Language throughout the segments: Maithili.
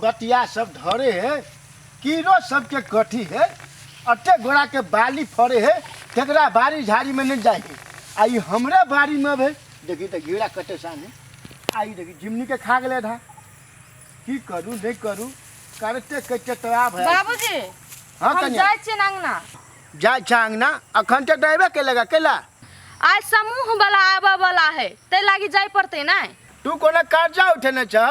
कटिया सब धरे हे कीड़ो सबके कठी हे अट्टे गोड़ा के बाली फरे हे तेकरा बारी झाड़ी में नहीं जाए आ ई हमरे बारी में भे देखी तो घीड़ा कटे सानी आई देखी जिमनी के खा गए धा की करू नहीं करू करते कटे तरा भय बाबूजी हाँ हम कन्या जाए छियै अंगना जा चांगना अखन तो ड्राइवर के लगा केला आज समूह वाला आबऽ वाला है तै लागी जाए पड़ते ना तू कोनो कर्जा उठेने छ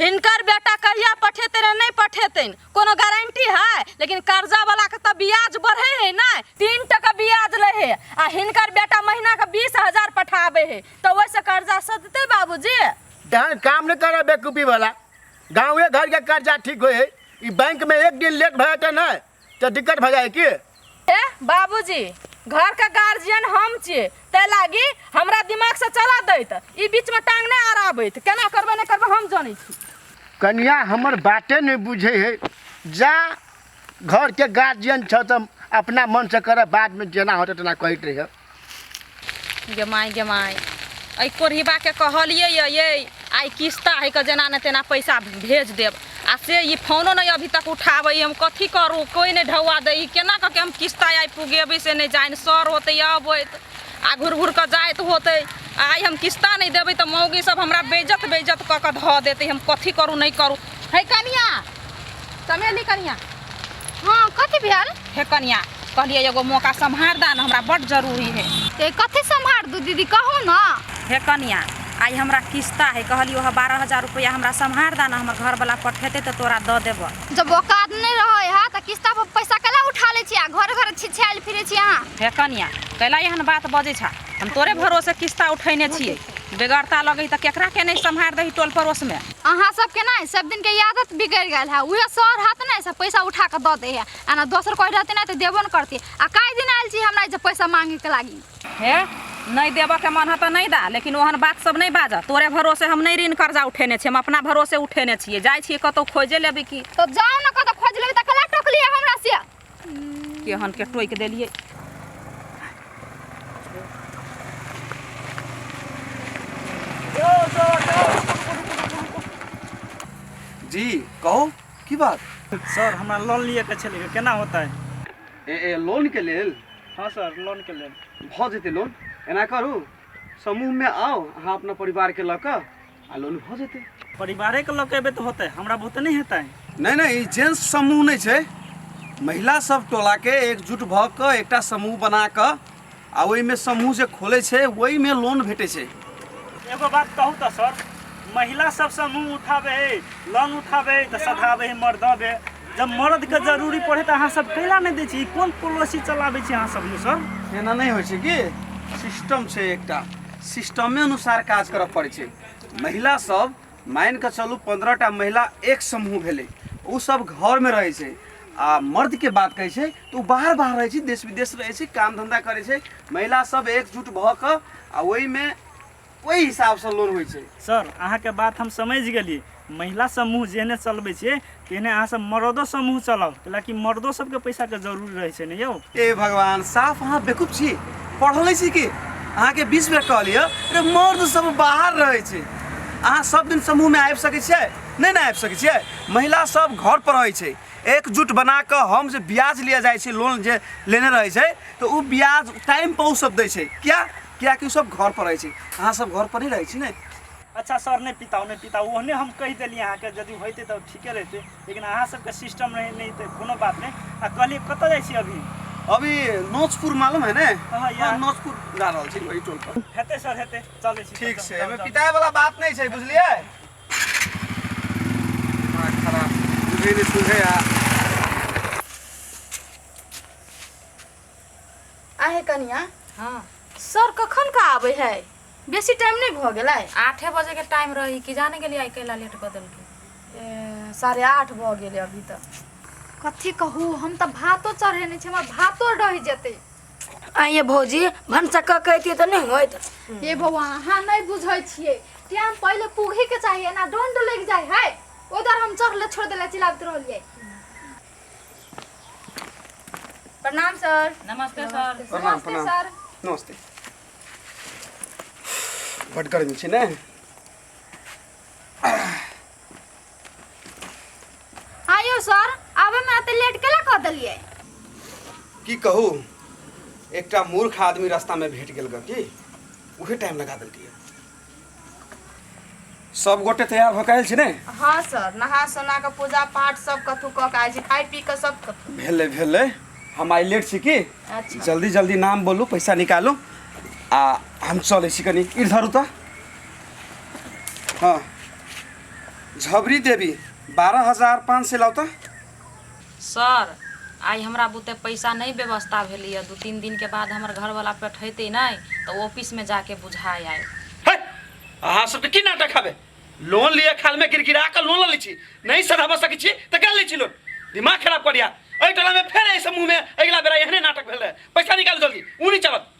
हिनकर बेटा कहिया पठेतै रे नहि पठेतैन कोनो गारंटी है लेकिन कर्जा वाला के तऽ ब्याज बढ़े है ना तीन टका ब्याज ले है आ हिनकर बेटा महीना के बीस हजार पठाबे है तऽ ओहिसँ कर्जा सधतै बाबूजी तहन काम नहीं करे बेकूफी वाला गाँवे घर के कर्जा ठीक होए है ई बैंक में एक दिन लेट भए तो नहीं तऽ दिक्कत भऽ जाए की ए बाबूजी घर के गार्जियन हम छियै तै लागी हमरा दिमाग से चला दैत ई बीच में टांग नहि अड़ाबैत केना करबै नहि करबै हम जानै छी कनिया हमर बाते नहि बुझै है जा घरके गार्जियन छ तऽ अपना मनसँ करऽ बादमे जेना होतै तेना कहैत रहिए गे माय गे माय एहि कोढ़िबाके कहलिए ये आइ किस्ता है के जेना ने तेना पैसा भेज देब आ से ई फोनो नहि अभी तक उठाबै हम कथी करू कोइ नहि ढौआ दै केना कऽ के हम किस्ता आइ पुगेबै से नहि जानि सर होतै अबैत आ घुर घुर कऽ जाइत होतै आइ हम किस्ता नहि देबै तऽ मौगी सब हमरा बेइज्जत बेइज्जत कऽ कऽ धऽ देतै हम कथी करू नहि करू है कनिया चमेली कनिया हाँ कथी भेल हे कनिया कहलिए एगो मौका सम्हार दा ना हमरा बड़ जरूरी है ए कथी सम्हार दू दीदी कहू ना हे कनिया आई हमरा किस्ता है कहली ओह बारह हजार रुपया हमरा सम्हार दा ना हमर घर वाला पठेते तो तोरा द देब जब औकात नहीं रहे है तो किस्ता पर पैसा कैला उठा ले छिया घर घर छिछाइल फिरे छिया हे कनिया कैला एहन बात बजे छा हम तोरे भरोसे किस्ता उठेने छियै बेगरता लगै तऽ केकरा के नहि सम्हारि दही टोल पड़ोस में अहाँ सब के नहीं सब दिन के आदत बिगड़ गया है उहे सर हाथ नहीं सब पैसा उठा के द दे है आना दोसर कोई रहते नहीं तो देबो न करती आ कई दिन आयल छी हमरा जे पैसा मांगे के लागी हे नहीं देब के मन है तो नहीं दा लेकिन ओहन बात सब नहीं बाजा तोरे भरोसे हम नहीं ऋण कर्जा उठेने छी हम अपना भरोसे उठेने छियै जाइ छियै कतौ खोजे लेबी की तो जाओ न कत खोज लेबी त कला टोकली हमरा से केहन के टोकि देलियै जी कहू की बात सर हमरा लोन लिए के छलै केना होतै ए ए लोन के लेल हाँ सर लोन के लेल भऽ जेतै लोन एना करू समूहमे आउ अहाँ अपना परिवारके लऽ कऽ आ लोन भऽ जेतै परिवारे के लऽ के एबै तऽ होतै हमरा बहुते नहि हेतै नहि नहि ई जेंट्स समूह नहि छै महिला सब टोला के एकजुट भऽ कऽ एकटा समूह बना कऽ आ ओहिमे समूह जे खोलै छै ओहिमे लोन भेटै छै एगो बात कहू तऽ सर महिला सब समूह उठाबे है लोन उठाबे है तऽ सधाबे है मर्दबे जब मर्द के जरूरी पड़े तो अहाँ सब कैला नहीं दे छी कौन पॉलिसी चलाबे छी अहाँ सब यौ सर एना नहीं हो कि सिस्टम से एक सिस्टमे अनुसार काज कर पड़े छै महिला सब मान के चलू पंद्रह टा महिला एक समूह भेले ओ सब घर में रहे छै आ मर्द के बात कहे छै तो ओ बाहर बाहर रहे छै देश विदेश रहे छै काम धंधा करे छै महिला सब एकजुट भ के आ में ओहि हिसाबसँ लोन होइ छै सर अहाँके बात हम समझ गेलियै महिला समूह जेहने चलबै छियै तेहने अहाँसभ मर्दो समूह चलाउ कैलाकि मर्दो सभके पैसाके जरूरी रहै छै ने यौ ए भगवान साफ अहाँ बेकूफ छी पढ़ले छी कि अहाँके बीस बेर कहलियै अरे मर्द सब बाहर रहै छै अहाँ सब दिन समूहमे आबि सकै छियै नहि ने आबि सकै छियै महिला सब घर पर रहै छै एकजुट बना कऽ हम जे ब्याज लिया जाइ छै लोन जे लेने रहै छै तऽ ओ ब्याज टाइम पर ओ सब दै छै किया किया कि सब घर पर रहै छी अहाँ सब घर पर ही रहै छी ने अच्छा सर नहीं पिताओ नहीं पिताओ ओहने हम कह दिली अहाँ के यदि होते तो ठीके रहते लेकिन अहाँ सबके सिस्टम नहीं नहीं तो कोनो बात नहीं आ कहलिए कतऽ जाइ छी अभी अभी नोचपुर मालूम है ने हाँ, यार। हाँ, नोचपुर जा रहल छी वही टोल पर हेते सर हेते चले छी ठीक से एमे पिताए वाला बात नहीं छै बुझलिए दिमाग खराब बुझे नहीं सुझे आ आहे कनिया हाँ सर कखन का आवे है बेसी टाइम नहीं भ गेलै आठे बजे के टाइम रही कि जाने के लिए आई कैला लेट बदल के ए, साढ़े आठ भ गेलै अभी तक कथी कहू हम त भातो चढ़ेने छी हमर भातो रहि जेतै आ ये भौजी भनसा क कहती तो नहीं होत ये बौआ अहाँ नहीं बुझै छियै टाइम पहिले पूघे के चाहिए ना डोंड लग जाय है उधर हम चढ़ले छोड़ देले चिल्लाबत रहलियै प्रणाम सर नमस्ते सर प्रणाम प्रणाम सर नमस्ते बड गर्मी छै ने आयो सर आबे में अते लेट केला कह देलिए की कहू एकटा मूर्ख आदमी रास्ता में भेट गेल ग की उहे टाइम लगा देलकै सब गोटे तैयार भऽ कऽ आयल छी ने हँ सर नहा सोना कऽ पूजा पाठ सब कथू कऽ के आयल छी खाइ पी कऽ सब कथू भेलै भेलै हम आइ लेट छी की अच्छा जल्दी जल्दी नाम बोलू पैसा निकालू आ हम चलै छी कनि इर धरू तऽ हँ झबरी देवी बारह हजार पाँच सय लाउ तऽ सर, आइ हमरा बुते पैसा नहि व्यवस्था भेलैए। दू-तीन दिनके बाद हमर घरवला पठैतै नहि तँ ऑफिसमे जा कऽ बुझा आएब। हे! अहाँ सभ तँ की नाटक हबे? लोन लिअ खालमे गिड़गिड़ा कऽ लोन लऽ लैत छी। नहि सधा भऽ सकैत छी तँ कए लैत छी लोन। दिमाग खराब कऽ लिअ। एहि टोलामे फेर एहिसँ मुँहमे अगिला बेरा एहने नाटक भेल रहए। पैसा निकालू जल्दी। ऊ नहि चलत।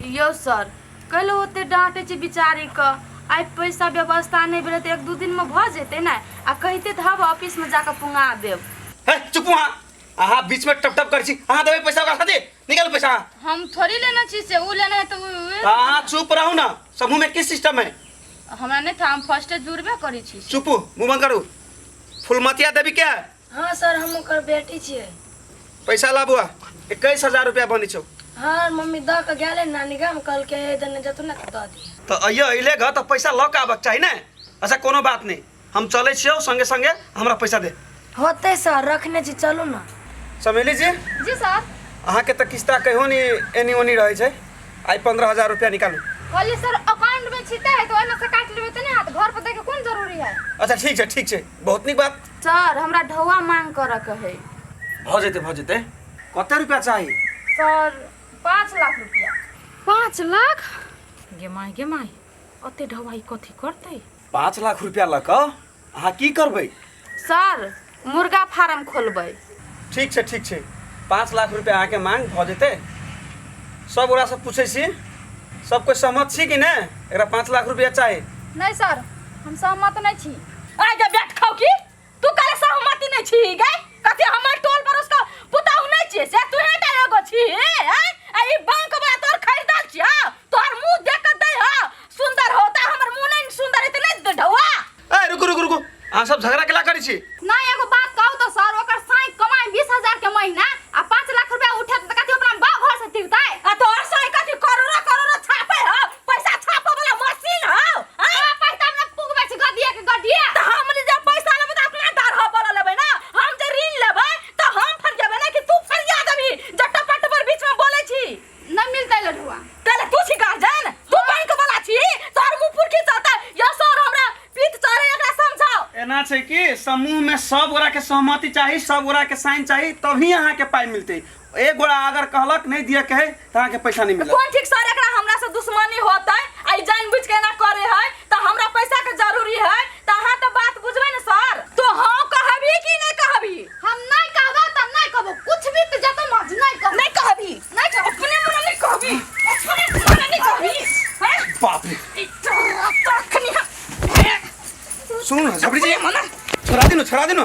यौ सर, कैल ओते डाँटै छी बिचारी कऽ, आइ पैसा व्यवस्था नै भेलै तऽ एक दू दिन मे भऽ जेतै ने, आ कहिते तऽ हब ऑफिस मे जाकऽ पुंगा देब। है चुपू अहाँ। अहाँ बीच मे टप टप करै छी। अहाँ देबै पैसा ओकरा खातिर? निकालू पैसा अहाँ। हम थोड़ी लेने छी से ऊ लेने हेतै ऊ ऊ। तऽ अहाँ चुप रहू ने। समूह मे की सिस्टम है? हमरा नै था हम फर्स्टे जुड़बे करै छी से। चुपू मुँह बंद करू। फुलमतिया देवी के है? हाँ सर हम ओकर बेटी छियै पैसा ला बुआ इक्कीस हजार रुपया बनी छौ हाँ मम्मी दऽ के गेलै नानी गाम कहलकै हे देने जतू ने दऽ दिए तो अइयो अइले घर तो पैसा लऽ के आबक चाही ने अच्छा कोनो बात नहीं हम चले छियो संगे संगे हमरा पैसा दे होते सर रखने छी चलू ने समेली जी जी सर अहाँ के तो किस्ता कहो नी एनी ओनी रहे छै आई पंद्रह हजार रुपया निकालू कहलिए सर अकाउंट में छिते है तो ओना से काट लेबे तने हाथ घर पर देखे कोन जरूरी है अच्छा ठीक छै ठीक छै बहुत नीक बात सर हमरा ढौआ मांग करऽ के है भऽ जेतै भऽ जेतै कते रुपया चाही सर पाँच लाख रुपया पाँच लाख गे माय गे माय ओते ढवाई कथी करतै पाँच लाख रुपया लऽ कऽ अहाँ की करबै सर मुर्गा फार्म खोलबै ठीक छै ठीक छै पाँच लाख रुपया अहाँके मांग भऽ जेतै सब ओकरासँ पूछै छी सब कोइ सहमत छी कि नहि एकरा पाँच लाख रुपया चाही नहि सर हम सहमत नहि छी आइ जे बैठ खाऊ की तू काले सहमति नहीं छी गई कथी हमर टोल पर उसका पुताऊ नहीं छी से तू हे टा एगो छी हैं? आ ई बांक बा तोर खरीदल छी हां तोहर मुंह देख के दे हां सुंदर होता हमर मुंह नहीं सुंदर इतने ढौआ ए रुकू रुकू रुकू अहाँ सब झगड़ा केला करै छी ना एगो बात कहू तो सर ओकर साई कमाई बीस हजार के महीना आ पाँच लाख रुपया उठे तो कथी अपना गाँव घर से तिरताय आ तोहर साई कथी करोड़ो करोड़ो छापे हो पैसा छापे वाला मशीन हो हां पैसा हमरा पुगबे छै गदिया के गदिया त हम जे पैसा लेबे त अपना डर हो बोल लेबे ना हम जे ऋण लेबे त हम फर जेबे ना कि तू फरिया देबी जट्टा पट पर बीच में बोले छी न मिलते लडुआ तले तू छी गार्जियन तू बैंक वाला छी तोर मुंह पुरखी चलता या सर हमरा पीत चढ़े एकरा समझाओ एना छै कि समूह में सब गोरा के सहमति चाही सब गोरा के साइन चाही तभी अहाँ के पाई मिलते एक गोड़ा अगर कहलक नहीं दिया कहे तो अहाँ के पैसा नहीं मिला कोन ठीक सर एकरा हमरा से दुश्मनी होतै आ ई जानबूझ के एना करे है त हमरा पैसा के जरूरी है त अहाँ त बात बुझबै न सर तो हाँ कहबी कि नहीं कहबी हम नहीं कहबो त नहीं कहबो कुछ भी त जतो मज नहीं कहबो नहीं कहबी नहीं कहबो अपने मन नहीं कहबी अपने मन नहीं कहबी हैं बाप रे ई तोरा तखनी हम सुनू ना झपड़ी जी मना छोड़ा दिनु छोड़ा दिनु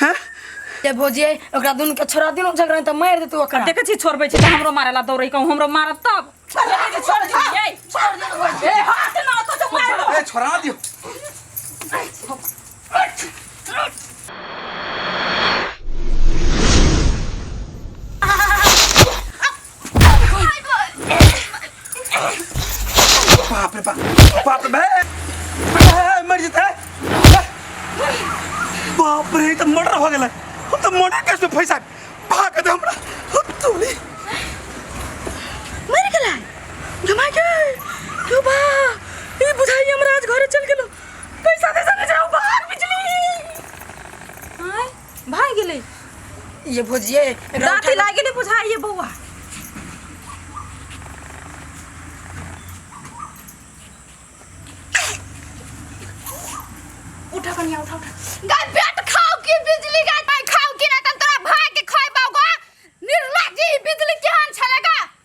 हाँ ए भौजी ओकरा दुनू के छोड़ा दिनो झगड़ा त मार देतू ओकरा देखे छी छोड़बै छी त हमरो मारे ला दौड़ै कहूँ हमरो मारब तब देखे छी छोड़ दियो ए छोड़ दियो भौजी ए हाथ ना तो जो मार दो ए छोड़ा ना दियो बाप रे बाप बाप रे बे बे, मर जेतै बाप रे ई तऽ मर्डर भऽ गेलै हम तऽ मर्डर केसमे फँसा भाग दे हमरा हम तोरी मर गेलै गमा के क्यों बा ई बुझाई हमरा आज घरे चल गेलो पैसा दे सके जाओ बाहर बिजली हाय भागि गेलै ये भोजिए एकरा दाँती उठा के- लागि गेलै बुझाइए बौआ उठा कनिया उठा उठा गा पेट खाओ कि बिजली गा पाई खाओ कि ना तन तोरा भाई के खाई पाओ गा निर्लज्जी बिजली केहन छले गा